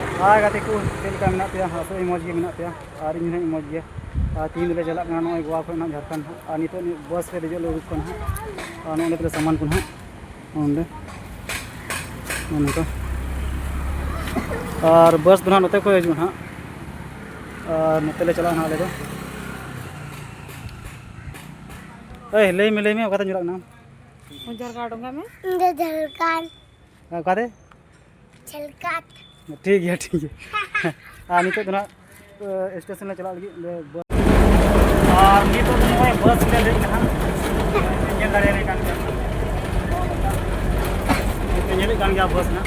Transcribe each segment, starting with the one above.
ᱦᱟᱭ ᱜᱟᱛᱮ ᱠᱚ ᱪᱮᱫ ᱞᱮᱠᱟ ᱢᱮᱱᱟᱜ ᱯᱮᱭᱟ ᱟᱥᱚᱜ ᱟᱹᱧ ᱢᱚᱡᱽ ᱜᱮ ᱢᱮᱱᱟᱜ ᱯᱮᱭᱟ ᱟᱨ ᱤᱧ ᱦᱚᱸᱧ ᱢᱚᱡᱽ ᱜᱮᱭᱟ ᱟᱨ ᱛᱤᱦᱤᱧ ᱫᱚᱞᱮ ᱪᱟᱞᱟᱜ ᱠᱟᱱᱟ ᱱᱚᱜᱼᱚᱭ ᱜᱳᱣᱟ ᱠᱷᱚᱱ ᱱᱟᱦᱟᱜ ᱡᱷᱟᱲᱠᱷᱚᱸᱰ ᱱᱟᱦᱟᱜ ᱟᱨ ᱱᱤᱛᱚᱜ ᱵᱟᱥ ᱨᱮ ᱫᱮᱡᱚᱜ ᱞᱮ ᱩᱰᱩᱠ ᱠᱟᱱᱟ ᱦᱟᱸᱜ ᱟᱨ ᱱᱚᱜᱼᱚᱸᱰᱮ ᱛᱟᱞᱮ ᱥᱟᱢᱟᱱ ᱠᱚ ᱱᱟᱦᱟᱜ ᱱᱚᱸᱰᱮ ᱱᱚᱜᱼᱚ ᱱᱚᱝᱠᱟ ᱟᱨ ᱵᱟᱥ ᱫᱚ ᱱᱟᱦᱟᱜ ᱱᱚᱛᱮ ᱠᱷᱚᱱ ᱦᱤᱡᱩᱜᱼᱟ ᱱᱟᱦᱟᱜ ᱟᱨ ᱱᱚᱛᱮ ᱞᱮ ᱪᱟᱞᱟᱜᱼᱟ ᱱᱟᱦᱟᱜ ᱟᱞᱮ ᱫᱚ ᱮᱭ ᱞᱟᱹᱭ ᱢᱮ ᱞᱟᱹᱭ ᱢᱮ ᱚᱠᱟᱛᱮ ᱧᱩᱨᱟᱜ ᱠᱟᱱᱟ ᱡᱷᱟᱨᱠᱷᱚᱸᱰ ᱚᱠᱟᱛᱮ ᱪᱷᱮᱞᱠᱟᱴ ᱴᱷᱤᱠ ᱜᱮᱭᱟ ᱴᱷᱤᱠ ᱜᱮᱭᱟ ᱟᱨ ᱱᱤᱛᱚᱜ ᱫᱚ ᱱᱟᱜ ᱥᱴᱮᱥᱚᱱ ᱞᱮ ᱪᱟᱞᱟᱜ ᱞᱟᱹᱜᱤᱫ ᱚᱸᱰᱮ ᱵᱟᱥ ᱟᱨ ᱱᱤᱛᱚᱜ ᱫᱚ ᱱᱚᱜᱼᱚᱭ ᱵᱟᱥ ᱞᱮ ᱫᱮᱡ ᱠᱟᱱᱟ ᱧᱮᱞ ᱫᱟᱲᱮᱭᱟᱞᱮ ᱠᱟᱱ ᱜᱮᱭᱟ ᱧᱮᱞᱮᱫ ᱠᱟᱱ ᱜᱮᱭᱟ ᱵᱟᱥ ᱱᱟᱜ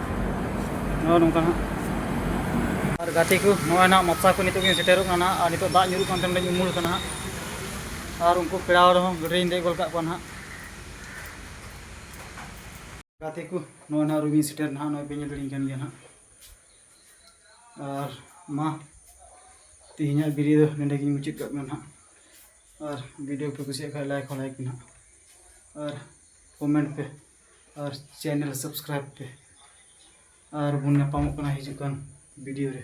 ᱱᱚᱜᱼᱚ ᱱᱚᱝᱠᱟ ᱦᱟᱸᱜ ᱟᱨ ᱜᱟᱛᱮ ᱠᱚ ᱱᱚᱜᱼᱚᱭ ᱱᱟᱦᱟᱜ ᱢᱟᱯᱥᱟ ᱠᱚ ᱱᱤᱛᱚᱜ ᱜᱤᱧ ᱥᱮᱴᱮᱨᱚᱜ ᱠᱟᱱᱟ ᱟᱨ ᱱᱤᱛᱚᱜ ᱫᱟᱜ ᱧᱩᱨᱩᱜ ᱠᱟᱱ ᱛᱟᱦᱮᱸ ᱩᱢᱩᱞ ᱠᱟᱱᱟ ᱦᱟᱸᱜ ᱟᱨ ᱩᱱᱠᱩ ᱯᱮᱲᱟ ᱨᱮᱦᱚᱸ ᱜᱟᱹᱰᱤᱧ ᱫᱮᱡ ᱜᱚᱫ ᱠᱟᱜ ᱠᱚᱣᱟ ᱱᱟᱦᱟᱜ ᱜᱟᱛᱮ ᱠᱚ ᱱᱚᱜᱼᱚᱭ ᱱᱟᱦᱟᱜ ᱨᱩᱢᱤᱧ ᱥᱮᱴᱮᱨ ᱱᱟᱦᱟᱜ ᱱᱚᱜᱼᱚᱭ ᱯᱮ ᱧᱮᱞ ᱫᱟᱲᱮᱧ ᱠᱟᱱ ᱜᱮᱭᱟ ᱱᱟᱦᱟᱜ ᱟᱨ ᱢᱟ ᱛᱮᱦᱮᱧᱟᱜ ᱵᱷᱤᱰᱤᱭᱳ ᱫᱚ ᱱᱚᱰᱮ ᱜᱤᱧ ᱢᱩᱪᱟᱹᱫ ᱠᱟᱜ ᱠᱟᱱᱟ ᱱᱟᱦᱟᱜ ᱟᱨ ᱵᱷᱤᱰᱤᱭᱳ ᱯᱮ ᱠᱩᱥᱤᱭᱟᱜ ᱠᱷᱟᱱ ᱞᱟᱭᱤᱠ ᱦᱚᱸ ᱞᱟᱭᱤᱠ ᱯᱮ ᱱᱟᱦᱟᱜ ᱟᱨ ᱠᱚᱢᱮᱱᱴ ᱯᱮ ᱟᱨ ᱪᱮᱱᱮᱞ ᱥᱟᱵᱥᱠᱨᱟᱭᱤᱵᱽ ᱯᱮ ᱟᱨ ᱵᱚᱱ ᱧᱟᱯᱟᱢᱚᱜ ᱠᱟᱱᱟ ᱦᱤᱡᱩᱜ ᱠᱟᱱ ᱵᱷᱤᱰᱤᱭᱳ ᱨᱮ